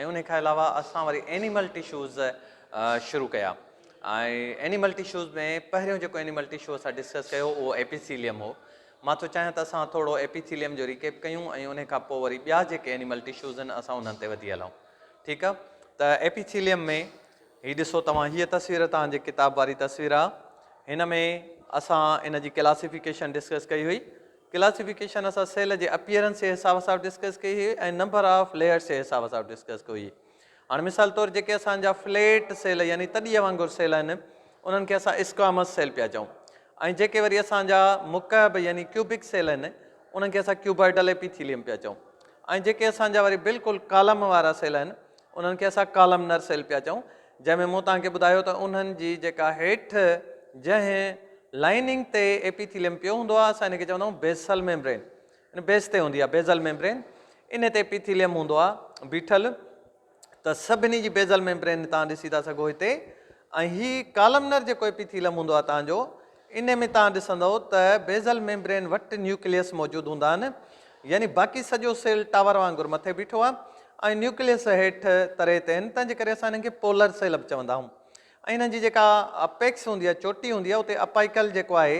۽ انهي کان علاوه اسان وري اينيمل ٽشوز شروع ڪيا ۽ اينيمل ٽشوز ۾ پهريون جيڪو اينيمل ٽشو اسان ڊسڪس ڪيو اهو ايپيٿيليم هو مان ٿو چاهيان ته اسان ٿورو ايپيٿيليم جو ريڪيپ ڪيون ۽ انهي کان پوء وري ٻيا جيڪي اينيمل ٽشوز آهن اسان انهن تي وڌي هلون ٺيڪ آهي ته ايپيٿيليم ۾ هي ڏسو توهان هيء تصوير توهان جي ڪتاب واري تصوير آهي هن ۾ اسان ان جي ڪلاسيفيڪيشن ڊسڪس ڪئي هئي ڪلاسيفڪيشن اسان سيل جي اپيئرنس جي حساب سان ڊسڪس ڪئي هئي ۽ نمبر آف ليئرس جي حساب سان ڊسڪس ڪئي هئي هاڻي مثال طور جيڪي اسان جا فليٽ سيل يعني تڏيء وانگر سيل آهن انهن کي اسان اسڪوامس سيل پيا چئون ۽ جيڪي وري اسان جا مڪعب يعني ڪيوبڪ سيل آهن انهن کي اسان ڪيوبائيڊل ايپيٿيليم پيا چئون ۽ جيڪي اسان جا وري بلڪل ڪالم وارا سيل آهن انهن کي اسان ڪالمنر سيل پيا چئون جنهن ۾ مون توهان کي ٻڌايو ته انهن جي جيڪا هيٺ جنهن لائننگ تي ايپيٿيليم پيو هوندو آهي اسان ان کي چوندا آهيون بيسل ميمبرين ان بيس تي هوندي آهي بيزل ميمبرين ان تي ايپيٿيليم هوندو آهي بيٺل ته سڀني جي بيزل ميمبرين توهان ڏسي ٿا سگهو هتي ۽ هي ڪالمنر جيڪو ايپيٿيليم هوندو آهي توهان جو انهي ۾ توهان ڏسندؤ ته بيزل ميمبرين وٽ نيوڪليس موجود هوندا آهن يعني باقي سڄو سيل ٽاور وانگر مٿي بيٺو آهي ۽ نيوڪليس هيٺ تري تي آهن تنهن جي ڪري اسان انهن کي پولر سيل به چوندا آهيون ۽ انهن جي جيڪا اپيڪس هوندي آهي چوٽي هوندي آهي اتي اپائيڪل جيڪو آهي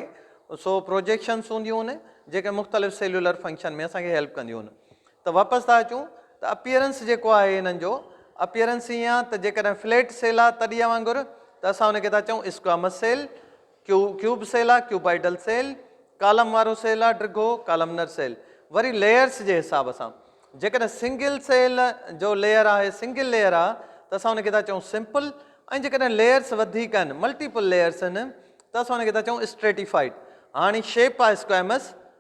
سو پروجيڪشنس هونديون آهن جيڪي مختلف سيلولر فنڪشن ۾ اسان کي هيلپ ڪنديون آهن ته واپس ٿا اچون ته اپيئرنس جيڪو آهي انهن جو اپيئرنس ائين آهي ته جيڪڏهن فليٽ سيل آهي تڏيا وانگر ته اسان ان کي ٿا چئون اسڪوامس سيل، ڪيو ڪيوب سيل آهي، ڪيوبائيڊل سيل، ڪالم وارو سيل آهي، ڊگهو ڪالمنر سيل، وري ليئرس جي حساب سان جيڪڏهن سنگل سيل جو ليئر آهي سنگل ليئر آهي ته اسان ان کي ٿا چئون سمپل ۽ جيڪڏهن ليئرس وڌيڪ آهن ملٽيپل ليئرس آهن ته اسان ان کي ٿا چئون اسٽريٽيفائيڊ هاڻي شيپ آهي اسڪوامس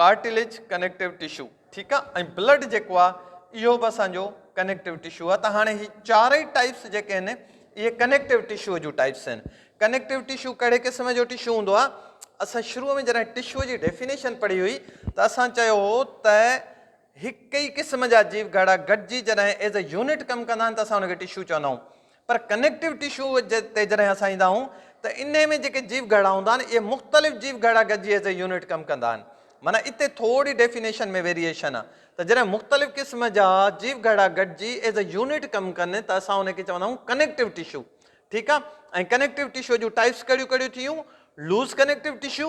ڪارٽليج ڪنيڪٽو ٽشو ٺيڪ آ ۽ بلڊ جيڪو آ اهو به اسان جو ڪنيڪٽو ٽشو آ ته هاڻي هي چارئي ٽائپس جيڪي آهن اهي ڪنيڪٽو ٽشو جون ٽائپس آهن ڪنيڪٽو ٽشو ڪهڙي قسم جو ٽشو هوندو آ اسان شروع ۾ جڏهن ٽشو جي ڊيفينيشن پڙهي هئي ته اسان چيو هو ته هڪ ئي قسم جا جيو گهڙا گڏجي جڏهن ايز اي يونٽ ڪم ڪندا آهن ته اسان ان کي ٽشو چوندا آهيون پر ڪنيڪٽو ٽشو تي جڏهن اسان ايندا آهيون ته انهي ۾ جيڪي جيو گهڙا هوندا آهن اهي مختلف جيو گهڙا گڏجي ايز اي يونٽ ڪم ڪندا آهن معنيٰ اتي ٿوري ڊيفينيشن ۾ ويريئيشن آهي ته جڏهن مختلف قسم جا جيو گهڙا گڏجي ايز اي يونٽ ڪم ڪن ته اسان انهي کي چوندا آهيون ڪنيڪٽو ٽشو ٺيڪ آهي ۽ ڪنيڪٽو ٽشو جون ٽائپس ڪهڙيون ڪهڙيون ٿيون لوز ڪنيڪٽو ٽشو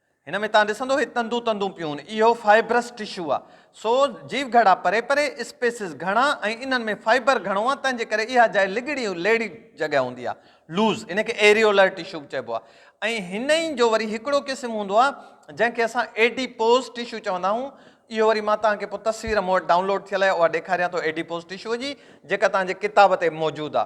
هن ۾ توهان ڏسندو هي تندون تندون پيون، اهو فائبرس ٽشو آ. سو جيو گهڙا پري پري، اسپيسز گهڻا ۽ انهن ۾ فائبر گهڻو آ تنهن جي ڪري اها جاء لڳڙي ۽ ليڙي جڳهه هوندي آ، Loose، ان کي ايريولر ٽشو به چئبو آ ۽ هن ئي جو وري هڪڙو قسم هوندو آ جنهن کي اسان ايڊيپوز ٽشو چوندا آهون، اهو وري مان توهان کي پوء تصوير مون وٽ ڊائونلوڊ ٿيل آهي اها ڏيکاريان ٿو ايڊيپوز ٽشو جي جيڪا توهان جي ڪتاب تي به موجود آ.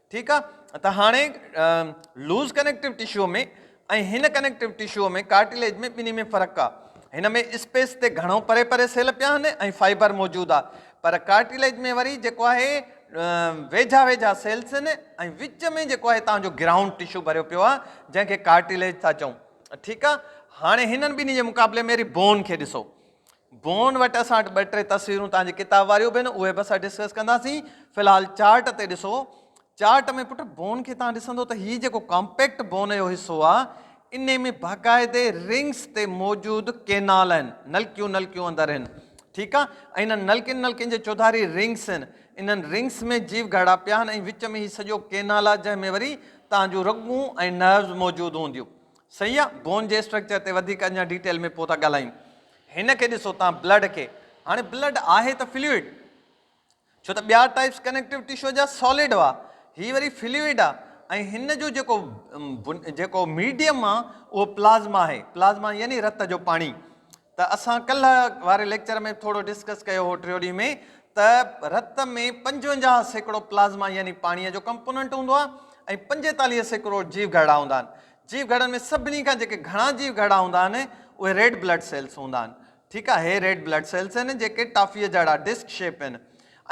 ٺيڪ آ ته هاڻي لوز ڪنيڪٽو ٽشو ۾ ۽ هن ڪنيڪٽو ٽشو ۾ ڪارٽيليج ۾ ٻنهي ۾ فرق آ هن ۾ اسپيس تي گهڻو پري پري سيل پيا آهن ۽ فائبر موجود آ پر ڪارٽيليج ۾ وري جيڪو آهي ويجها ويجها سيلس آهن ۽ وچ ۾ جيڪو آهي تنهنجو گرائونڊ ٽشو ڀريو پيو آ جنهن کي ڪارٽيليج ٿا چئون ٺيڪ آ هاڻي هنن ٻنهي جي مقابلي ۾ ري بون کي ڏسو بون وٽ اسان وٽ ٻه ٽي تصويرون تان جي ڪتاب واريون به آهن اهي به اسان ڊسڪس ڪنداسين في الحال چارٽ تي ڏسو چارٽ ۾ پٽ بون کي تان ڏسندو ته هي جيڪو ڪامپيڪٽ بون جو حصو آ انهي ۾ باقاعدي رنگس تي موجود ڪينال آهن نلڪيون نلڪيون اندر آهن ٺيڪ آ ۽ انهن نلڪين نلڪين جي چوڌاري رنگس آهن انهن رنگس ۾ جيو گهڙا پيا آهن ۽ وچ ۾ هي سڄو ڪينال آ جنهن ۾ وري تان جون رڳون ۽ نروز موجود هونديون صحيح آ بون جي اسٽرڪچر تي وڌيڪ اڃا ڊيٽيل ۾ پوء ٿا ڳالهايون هن کي ڏسو تان بلڊ کي هاڻي بلڊ آهي ته فلوئڊ ڇو ته ٻيا ٽائپس ڪنيڪٽو ٽشو جا سالڊ هئا هي وري فلوئڊ آ ۽ هن جو جيڪو جيڪو ميڊيم آ اهو پلازما آهي پلازما يعني رت جو پاڻي ته اسان ڪلهه واري ليڪچر ۾ ٿورو ڊسڪس ڪيو هو ٽريوري ۾ ته رت ۾ پنجونجاهه سيڪڙو پلازما يعني پاڻي جو ڪمپوننٽ هوندو آ ۽ پنجيتاليهه سيڪڙو جيو گهرڙا هوندا آهن جيو گهڙن ۾ سڀني کان جيڪي گهڻا جيو گهڙا هوندا آهن اهي ريڊ بلڊ سيلس هوندا آهن ٺيڪ آهي هي ريڊ بلڊ سيلس آهن جيڪي ٽافيء جهڙا ڊسڪ شيپ آهن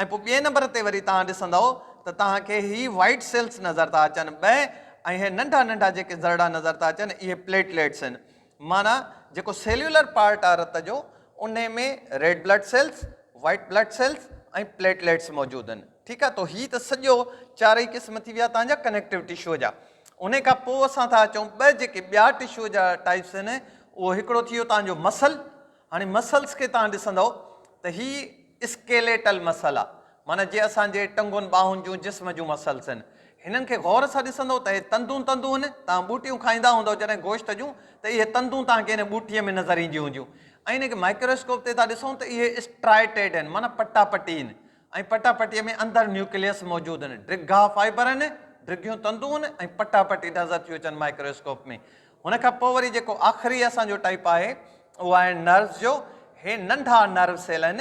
۽ پوء ٻئي نمبر تي وري توهان ڏسندؤ ته توهان کي هي وائٽ سيلس نظر ٿا اچن ٻئي ۽ هي ننڍا ننڍا جيڪي ذرڙا نظر ٿا اچن اهي پليٽليٽس آهن معنيٰ جيڪو سيلولر پارٽ آهي رت جو ان ۾ red blood cells white blood cells ۽ platelets موجود آهن ٺيڪ آهي تو هي ته سڄو چارئي قسم ٿي ويا توهان جا ڪنيڪٽو ٽشوء جا انهي کان پوء اسان ٿا اچون ٻه جيڪي ٻيا ٽشوء جا ٽائپس آهن اهو هڪڙو ٿي ويو توهان جو مسل هاڻي مسلس کي توهان ڏسندؤ ته هي اسڪيليٽل مسل آ معنيٰ جي اسان جي ٽنگن ٻانهن جون جسم جون مسلس آهن هنن کي غور سان ڏسندؤ ته هي تندون تندون آهن توهان ٻوٽيون کائيندا هوندؤ جڏهن گوشت جون ته اهي تندون توهان کي هن ٻوٽي ۾ نظر اينديون هونديون ۽ هن کي مائڪروسڪوپ تي ٿا ڏسون ته اهي اسٽرائيٽيڊ آهن معنيٰ پٽا پٽي آهن ۽ پٽا پٽيء ۾ اندر نيوڪليس موجود هن. ڊگها فائبر هن، ڊگهيون تندون هن ۽ پٽا پٽي نظر ٿيون اچن مائڪرواسڪوپ ۾. هن کان پوء وري جيڪو آخري اسان جو ٽائيپ آهي اهو آهي نروس جو. هي ننڍا نرو سيل هن.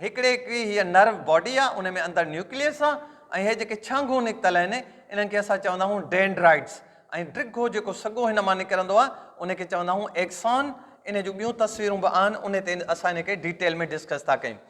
هڪڙي هڪڙي هيء نرو باڊي آهي ان ۾ اندر نيوڪليس آهي ۽ هي جيڪي ڇانگون نڪتل هن انهن کي اسان چوندا آهيون ڊينڊرائيٽس ۽ ڊگهو جيڪو سڳو هن مان نڪرندو آهي ان کي چوندا آهيون ايڪسان. انهي جون ٻيون تصويرون به آهن انهي تي اسان انهي کي ڊيٽيل ۾ ڊسڪس ٿا ڪيون.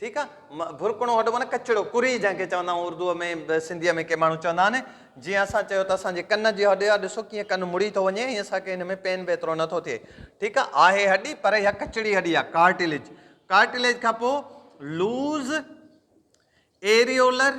ٺيڪ آ ڀرڪڻو هڏ معنيٰ ڪچڙو ڪري جنهن کي چوندا آهيون اردو ۾ سنڌي ۾ ڪي ماڻهو چوندا آهن جيئن اسان چيو ته اسان جي ڪن جي هڏ آ ڏسو ڪيئن ڪن مڙي ٿو وڃي ۽ اسان کي هن ۾ پين به ايترو نه ٿو ٿئي ٺيڪ آ آهي هڏي پر اها ڪچڙي هڏي آ ڪارٽيليج ڪارٽيليج کان پوء لوز ايريولر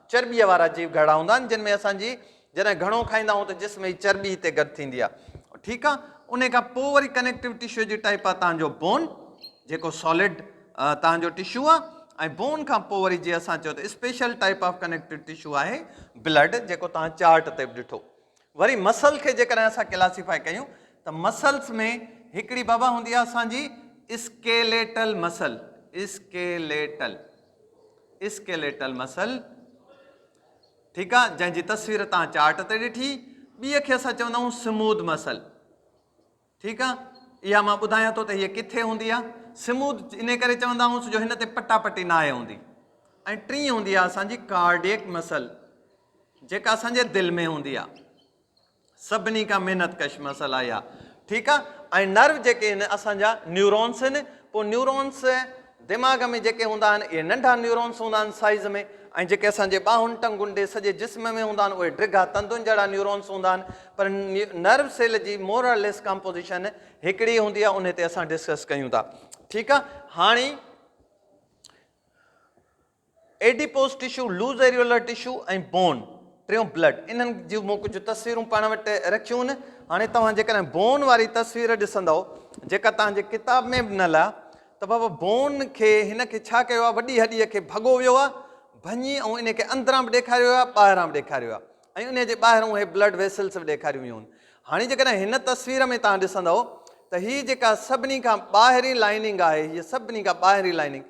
چرٻيء وارا جيو گهرڙا هوندا آهن جن ۾ اسان جي جڏهن گهڻو کائيندا آهيون ته جسم جي چرٻي هتي گڏ ٿيندي آهي ٺيڪ آهي انهي کان پوء وري ڪنيڪٽو ٽشو جي ٽائيپ آهي تهان جو بون جيڪو سالڊ تهان جو ٽشو آهي ۽ بون کان پوء وري جي اسان چيو ته special type of connective tissue آهي بلڊ جيڪو تهان چارٽ تي به ڏٺو وري مسل کي جيڪڏهن اسان ڪلاسيفائي ڪيون ته مسلس ۾ هڪڙي بابا هوندي آهي اسان جي skeletal muscle skeletal skeletal muscle ٺيڪ آ جنهن جي تصوير تان چارٽ تي ڏٺي ٻي کي اسان چوندا آهيون سمود مسل ٺيڪ آ اها مان ٻڌايان ٿو ته هي ڪٿي هوندي آهي سمود ان ڪري چوندا آهيون جو هن تي پٽا پٽي نه آهي هوندي ۽ ٽي هوندي آهي اسانجي ڪارڊيڪ مسل جيڪا اسانجي دل ۾ هوندي آهي سڀني کان محنت ڪش مسل اهي آهي ٺيڪ آهي ۽ نرو جيڪي هن اسان جا نيورونس هن پوء نيورونس دماغ ۾ جيڪي هوندا آهن اهي ننڍا نيورونس هوندا آهن سائيز ۾ ۽ جيڪي اسان جي ٻانهن ٽنگن ڏي سڄي جسم ۾ هوندا آهن اهي ڊگها تندن جهڙا نيورونس هوندا آهن پر نرو سيل جي مورر ليس ڪمپوزيشن هڪڙي هوندي آهي ان تي اسان ڊسڪس ڪيون ٿا ٺيڪ آهي هاڻي adipose tissue, loose areolar tissue ۽ bone, ٽيون بلڊ، انهن جون مون ڪجهه تصويرون پاڻ وٽ رکيون آهن. هاڻي توهان جيڪڏهن بون واري تصوير ڏسندؤ جيڪا توهان جي ڪتاب ۾ به نه لها ته بابا بون کي هن کي ڇا ڪيو آهي وڏي هڏيء کي ڀڳو ويو آهي ڀڃي ۽ ان کي اندران به ڏيکاريو ويو آهي ٻاهران به ڏيکاريو ويو آهي ۽ ان جي ٻاهران اهي بلڊ ويسلس به ڏيکاريون ويون آهن هاڻي جيڪڏهن هن تصوير ۾ توهان ڏسندؤ ته هي جيڪا سڀني کان ٻاهرين لائننگ آهي هيء سڀني کان ٻاهرين لائننگ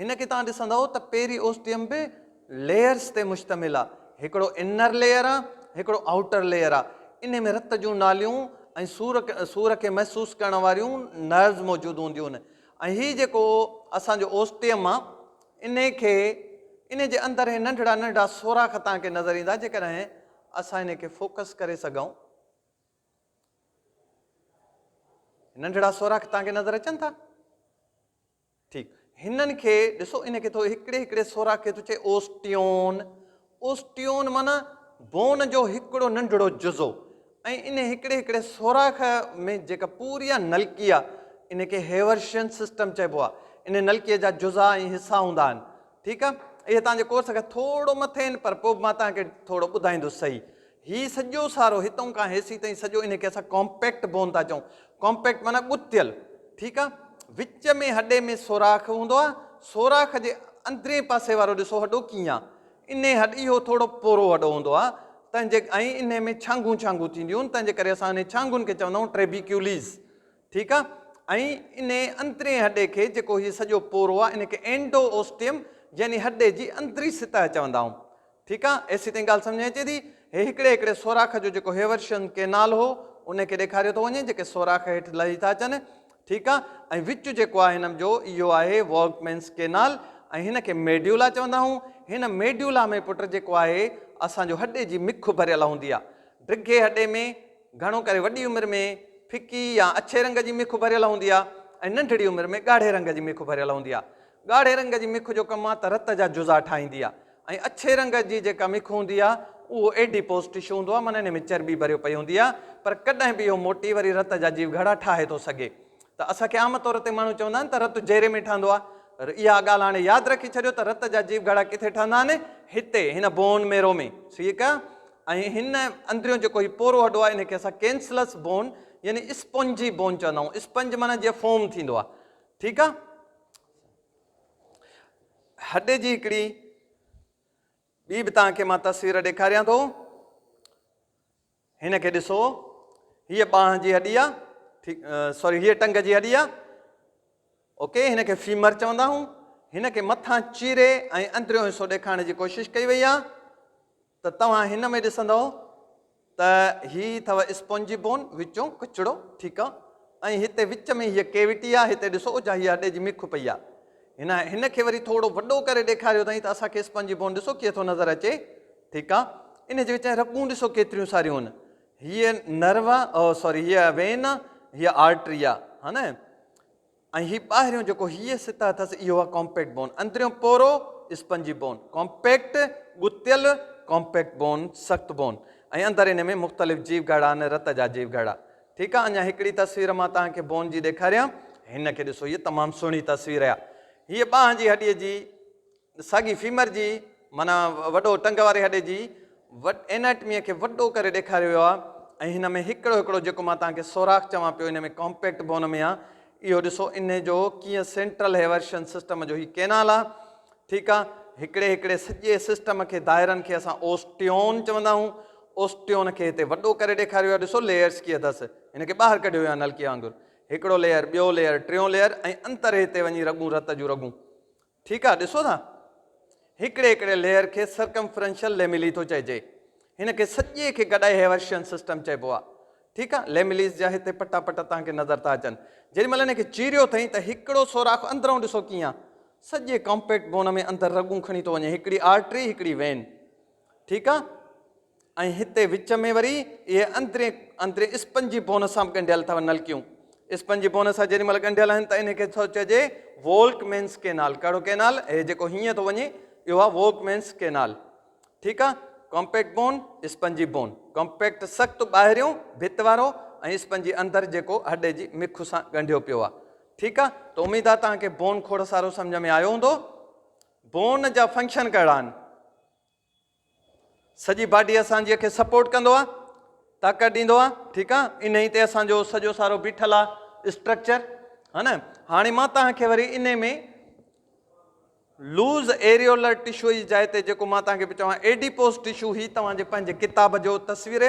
هن کي توهان ڏسندؤ ته پيري اوسٽيم به ليئرز تي مشتمل آ. هڪڙو انر ليئر آ هڪڙو آئوٽر ليئر آ. انهي ۾ رت جون ناليون ۽ سور سور کي محسوس ڪرڻ واريون نروز موجود هونديون آهن ۽ هي جيڪو اسان جو اوسٽيم آ انهي کي انهي جي اندر هي ننڍڙا ننڍڙا سوراخ توهان کي نظر ايندا جيڪڏهن اسان انهي کي فوڪس ڪري سگهئون. ننڍڙا سوراخ توهان کي نظر اچن ٿا؟ ٺيڪ هنن کي ڏسو ان کي ٿو هڪڙي هڪڙي سوراخ کي ٿو چئي اوسٽيون اوسٽيون معنيٰ بون جو هڪڙو ننڍڙو جزو ۽ ان هڪڙي هڪڙي سوراخ ۾ جيڪا پوري آ نلڪي آ ان کي هيورشين سسٽم چئبو آ ان نلڪي جا جزا ۽ حصا هوندا آهن ٺيڪ آ اهي تان جي ڪورس کان ٿورو مٿي آهن پر پوء به مان تان کي ٿورو ٻڌائيندس سهي هي سڄو سارو هتئون کان هيسي تائين سڄو انهي کي اسان ڪامپيڪٽ بون ٿا چئون ڪامپيڪٽ معنيٰ ڳتيل ٺيڪ آ وچ ۾ هڏي ۾ سوراخ هوندو آ سوراخ جي اندرين پاسي وارو ڏسو هڏو ڪيئن آ انهي هڏ اهو ٿورو پورو هڏو هوندو آ تنهن جي ۽ انهي ۾ ڇانگون ڇانگون ٿينديون آهن تنهن جي ڪري اسان انهي ڇانگون کي چوندا آهيون ٽريبيڪيوليز ٺيڪ آ ۽ انهي انترين هڏي کي جيڪو هي سڄو پورو آ ان کي اينڊو اوسٽيم يعني هڏي جي اندري سطح چوندا آهون ٺيڪ آ ايسي تائين ڳالهه سمجهه ۾ اچي ٿي هي هڪڙي هڪڙي سوراخ جو جيڪو هيورشن ڪينال هو ان کي ڏيکاريو ٿو وڃي جيڪي سوراخ هيٺ لهي ٿا اچن ٺيڪ آ ۽ وچ جيڪو آهي هنم جو اهو آهي ووگمينس ڪينال ۽ هن کي ميڊيولا چوندا آهون هن ميڊيولا ۾ پٽ جيڪو آهي اسان جو هڏي جي مک ڀريل هوندي آ ڊگهي هڏي ۾ گهڻو ڪري وڏي عمر ۾ ڦڪي يا اڇي رنگ جي مک ڀريل هوندي آهي ۽ ننڍڙي عمر ۾ ڳاڙهي رنگ جي مک ڀريل هوندي آهي. ڳاڙهي رنگ جي مک جو ڪم آهي ته رت جا جزا ٺاهيندي آهي ۽ اڇي رنگ جي جيڪا مک هوندي آهي اهو ايڊيپوز ٽشو هوندو آهي معني انهي ۾ چرٻي ڀريو پئي هوندي آهي پر ڪڏهن به اهو موٽي وري رت جا جيوگهڙا ٺاهي ٿو سگهي. ته اسان کي عام طور تي ماڻهو چوندا آهن ته رت جيري ۾ ٺهندو آهي پر اها ڳالهه هاڻي ياد رکي ڇڏيو ته رت جا جيو گهڙا ڪٿي ٺهندا آهن هتي هن بون ميرو ۾ ٺيڪ آهي ۽ هن اندريون جيڪو هي پورو هڏو آهي ان کي اسان ڪينسلس بون يعني اسپنجي بون چوندا آهيون اسپنج معنی جيئن فوم ٿيندو آهي ٺيڪ آهي هڏي جي هڪڙي ٻي به تان کي مان تصوير ڏيکاريان ٿو هن کي ڏسو، هيء ٻانهن جي هڏي آ، ٺيڪ، سوري هيء ٽنگ جي هڏي آ، اوڪي، هن کي فيمر چوندا آهون، هن کي مٿان چيري ۽ اندريون حصو ڏيکارڻ جي ڪوشش ڪئي وئي آ ته توهان هن ۾ ڏسندؤ ته هي اٿو اسپونجي بون، وچون ڪچڙو، ٺيڪ آ، ۽ هتي وچ ۾ هيء ڪيوٽي آ، هتي ڏسو اجها هيء هڏي جي مک پئي آ، هن هن کي وري ٿورو وڏو ڪري ڏيکاريو اٿائين ته اسان کي اسپونجي بون ڏسو ڪيئن ٿو نظر اچي ٺيڪ آ انهي جي وچ ۾ رڳون ڏسو ڪيتريون ساريون هن هيء نروا او سوري هيء وين آ هيء آرٽري آ ها نه ۽ هي ٻاهريون جيڪو هيء سطح اٿس اهو آ ڪامپيڪٽ بون اندريون پورو اسپنجي بون ڪامپيڪٽ ڳتيل ڪامپيڪٽ بون سخت بون ۽ اندر انهي ۾ مختلف جيو گهڙا آهن رت جا جيو گهڙا ٺيڪ آ اڃا هڪڙي تصوير مان توهان کي بون جي ڏيکاريان هن کي ڏسو هيء تمام سهڻي تصوير آ هيء ٻانهن جي هڏي جي ساڳي فيمر جي معنيٰ وڏو ٽنگ واري هڏي جي ايناٽميء کي وڏو ڪري ڏيکاريو ويو آهي ۽ هن ۾ هڪڙو هڪڙو جيڪو مان توهان کي سوراخ چوان پيو ان ۾ ڪامپيڪٽ بون ۾ آهي اهو ڏسو ان جو ڪيئن سينٽرل هيورشن سسٽم جو هي ڪينال آهي ٺيڪ آهي هڪڙي هڪڙي سڄي سسٽم کي دائرن کي اسان اوسٽيون چوندا آهيون اوسٽيون کي هتي وڏو ڪري ڏيکاريو آهي ڏسو ليئرس ڪي اٿس هن کي ٻاهر ڪڍيو ويو آهي نلڪي وانگر هڪڙو ليئر ٻيو ليئر ٽيون ليئر ۽ انتر هتي وڃي رڳون رت جون رڳون ٺيڪ آ ڏسو ٿا هڪڙي هڪڙي ليئر کي سرڪمفرنشل ليميلي ٿو چئجي هن کي سڄي کي گڏائي هيورشين سسٽم چئبو آ ٺيڪ آ ليميليز جا هتي پٽا پٽا توهان کي نظر ٿا اچن جيڏي مهل هن کي چيريو ٿئين ته هڪڙو سوراخ اندرئون ڏسو ڪيئن آ سڄي ڪامپيڪٽ بون ۾ اندر رڳون کڻي ٿو وڃي هڪڙي آرٽري هڪڙي وين ٺيڪ آ ۽ هتي وچ ۾ وري اهي اندرين اندرين اسپنجي بون سان به ڳنڍيل اٿو نلڪيون. اسپنجي بون سان جيڏي مهل ڳنڍيل آهن ته انهي کي ٿو چئجي وولڪمينس ڪينال. ڪهڙو ڪينال؟ هي جيڪو هينئن ٿو وڃي اهو آهي وولڪمينس ڪينال. ٺيڪ آهي. Compact bone, spongy bone. Compact سخت ٻاهريون ڀت وارو ۽ اسپنجي اندر جيڪو هڏي جي مک سان ڳنڍيو پيو آهي. ٺيڪ آهي. ته اميد آهي توهان کي بون کوڙ سارو سمجهه ۾ آيو هوندو. بون جا فنڪشن ڪهڙا آهن؟ سڄي باڊي اسان جي کي سپورٽ ڪندو آ طاقت ڏيندو آ ٺيڪ آ انهي تي اسان جو سڄو سارو بيٺل آ اسٽرڪچر ها نه هاڻي مان توهان کي وري انهي ۾ لوز ايريولر ٽشو جي جاء تي جيڪو مان توهان کي به چوان ايڊيپوز ٽشو هي توهان جي پنهنجي ڪتاب جو تصوير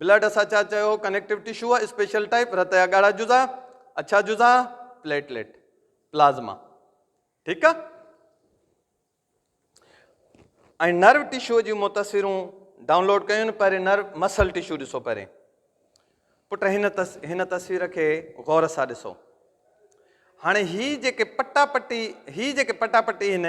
بلڊ اسان ڇا چيو هو ڪنيڪٽو ٽشو هو اسپيشل ٽائپ رت جا ڳاڙها جزا اڇا جزا پليٽليٽ پلازما ٺيڪ آ ۽ نرو ٽشو جي مون تصويرون ڊائونلوڊ ڪيون پهرين نرو مسل ٽشو ڏسو پهرين پٽ هن تس هن تصوير کي غور سان ڏسو هاڻي هي جيڪي پٽا پٽي هي جيڪي پٽا پٽي هن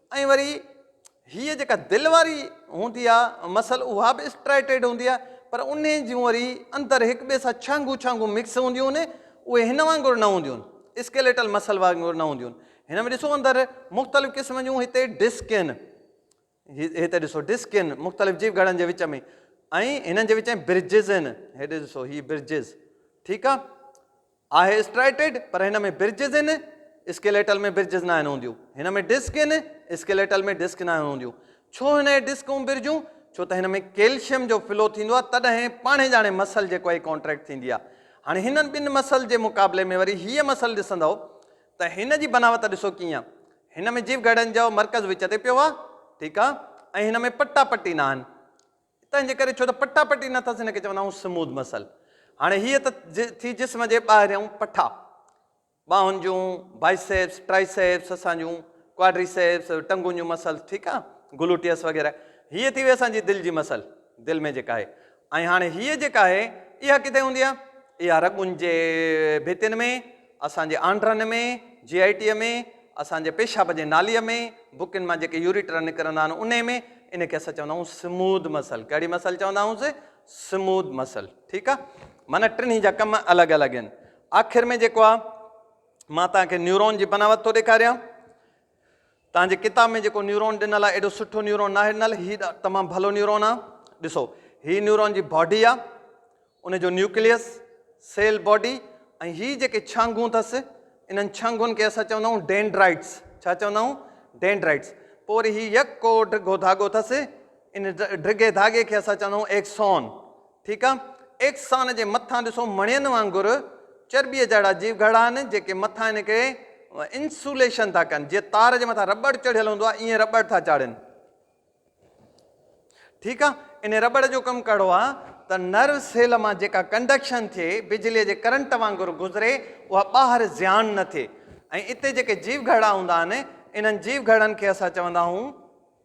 ۽ وري هيء جيڪا دل واري هوندي آ مسل اها به اسٽرائيٽيڊ هوندي آ پر انهي جون وري اندر هڪ ٻئي سان ڇانگون ڇانگون مڪس هونديون هن اهي هن وانگر نه هونديون هن اسڪيليٽل مسل وانگر نه هونديون هن هن ۾ ڏسو اندر مختلف قسم جون هتي ڊسڪ هن هتي ڏسو ڊسڪ هن مختلف جيو گهڙن جي وچ ۾ ۽ هنن جي وچ ۾ برجز هن هيڏي ڏسو هي برجز ٺيڪ آ آهي اسٽرائيٽيڊ پر هن ۾ برجز هن اسڪيليٽل ۾ برجز ناهن هونديون هن ۾ ڊسڪ هن اسڪيليٽل ۾ ڊسڪ ناهن هونديون ڇو هن جي ڊسڪ ۽ برجون ڇو ته هن ۾ ڪيلشيم جو فلو ٿيندو آهي تڏهن پاڻهي ڄاڻي مسل جيڪو آهي ڪانٽريڪٽ ٿيندي آهي هاڻي هنن ٻن مسل جي مقابلي ۾ وري هيء مسل ڏسندو ته هن جي بناوت ڏسو ڪيئن آهي هن ۾ جيو گهڙن جو مرڪز وچ تي پيو آهي ٺيڪ آهي ۽ هن ۾ پٽا پٽي ناهن تنهنجي ڪري ڇو ته پٽا پٽي نه اٿس ان کي چوندا آهيون سمود مسل هاڻي هيء ته ٿي جسم جي ٻاهريون پٺا ٻانهن جون بائيسيپس ٽرائيسيپس اسان جون ڪواڊريسيپس ٽنگون جون مسل ٺيڪ آ گلوٽيس وغيره هيء ٿي وئي اسان جي دل جي مسل دل ۾ جيڪا آهي ۽ هاڻي هيء جيڪا آهي اها ڪٿي هوندي آ اها رڳن جي ڀتين ۾ اسان جي آنڊرن ۾، جي آء ٽي ۾، اسان جي پيشاب جي ناليء ۾، بڪين مان جيڪي يوريٽرا نڪرندا آهن انهي ۾، ان کي اسان چوندا آهيون سموڌ مسل، ڪهڙي مسل چوندا آهيونس؟ سموڌ مسل، ٺيڪ آ، معنيٰ ٽنهي جا ڪم الڳ الڳ آهن. آخر ۾ جيڪو آ مان توهان کي نيورون جي بناوت ٿو ڏيکاريان. توهان جي ڪتاب ۾ جيڪو نيورون ڏنل آهي ايڏو سٺو نيورون ناهي ڏنل هي تمام ڀلو نيورون آهي ڏسو هي نيورون جي باڊي آهي ان جو نيوڪليس سيل باڊي ۽ هي جيڪي ڇانگون اٿس انهن ڇانگون کي اسان چوندا آهيون ڊينڊرائيٽس ڇا چوندا آهيون ڊينڊرائيٽس پوء وري هي يڪ ڪو ڊگهو ڌاڳو اٿس ان ڊگهي ڌاڳي کي اسان چوندا آهيون ايڪسون ٺيڪ آ احسان جي مٿان ڏسو مڻين وانگر چرٻيء جهڙا جيو گهڙا آهن جيڪي مٿان ان کي انسوليشن ٿا ڪن جيئن تار جي مٿان رٻڙ چڙهيل هوندو آهي ائين رٻڙ ٿا چاڙهين ٺيڪ آ ان رٻڙ جو ڪم ڪهڙو آ ته نرو سيل مان جيڪا ڪنڊڪشن ٿئي بجلي جي ڪرنٽ وانگر گذري اها ٻاهر زيان نه ٿئي ۽ اتي جيڪي جيو گهڙا هوندا آهن انهن جيو گهڙن کي اسان چوندا آهون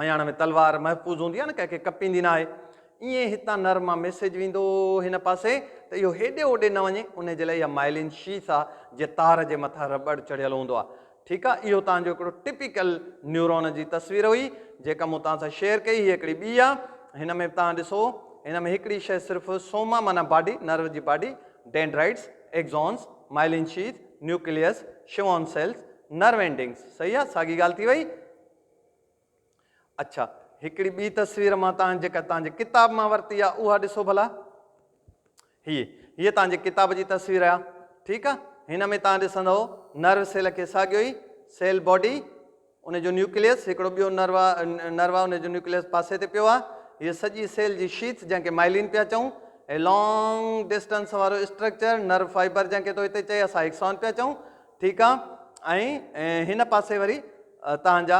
مياڻ ۾ تلوار محفوظ هوندي آهي نه ڪنهن کي ڪپيندي نه آهي ائين هتان نر مان ميسيج ويندو هن پاسي ته اهو هيڏي هوڏي نه وڃي انهي جي لاء اها مائلين شيث آ جي تار جي مٿان رٻڙ چڙهيل هوندو آ ٺيڪ آ اهو توهان جو هڪڙو ٽپيڪل نيورون جي تصوير هئي جيڪا مون توهان سان شيئر ڪئي هي هڪڙي ٻي آ هن ۾ به توهان ڏسو هن ۾ هڪڙي شيء صرف سوما معنيٰ باڊي نرو جي body dendrites axons myelin sheath nucleus Schwann cells nerve endings صحيح آ ساڳي ڳالهه ٿي وئي اڇا هڪڙي ٻي تصوير مان تان جيڪا تان جي ڪتاب مان ورتي آ اها ڏسو ڀلا هي هي تان جي ڪتاب جي تصوير آ ٺيڪ آ هن ۾ تان ڏسندو نرو سيل کي ساڳيو ئي سيل باڊي ان جو نيوڪليس هڪڙو ٻيو نروا نروا ان جو نيوڪليس پاسي تي پيو آ هي سڄي سيل جي شيٿ جنهن کي مائلين پيا چون هي لانگ ڊسٽنس وارو اسٽرڪچر نرو فائبر جنهن کي تو هتي چئي اسا هڪسون پيا چون ٺيڪ آ ۽ هن پاسي وري توهان جا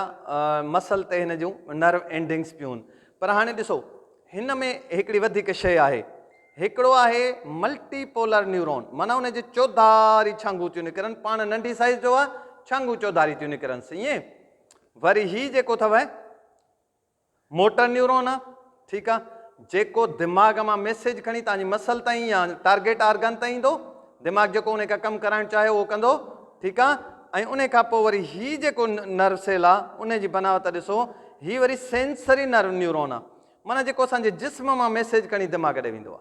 مسل تي هن جون نرو اينڊنگس پيون پر هاڻي ڏسو هن ۾ هڪڙي وڌيڪ شيء آهي هڪڙو آهي ملٽي پولر نيورون معنيٰ ان جي چوڌاري ڇانگون ٿيون نڪرن پاڻ ننڍي سائز جو آ ڇانگون چوڌاري ٿيون نڪرن سيئين وري هي جيڪو اٿو موٽر نيورون، ٺيڪ آ، جيڪو دماغ مان ميسيج کڻي توهان جي مسل تائين يا ٽارگيٽ آرگن تائين ايندو، دماغ جيڪو انهي کان ڪم ڪرائڻ چاهيو اهو ڪندو، ٺيڪ آ، ۽ انهي کان پوء وري هي جيڪو نرو سيل آ انهي جي بناوت ڏسو، هي وري سينسري نرو نيورون آ، معنيٰ جيڪو اسان جي جسم مان ميسيج کڻي دماغ ڏي ويندو آ.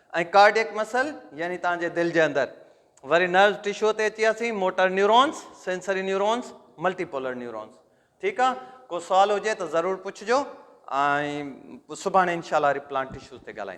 ۽ ڪارڊيڪ مسل يعني توهان جي دل جي اندر. وري نروس ٽشو تي اچي وياسين motor neurons, sensory neurons, multipolar neurons ٺيڪ آ ڪو سوال هجي ته ضرور پڇجو ۽ سڀاڻي انشاء الله وري پلانٽ ٽشوز تي ڳالهائينداسين.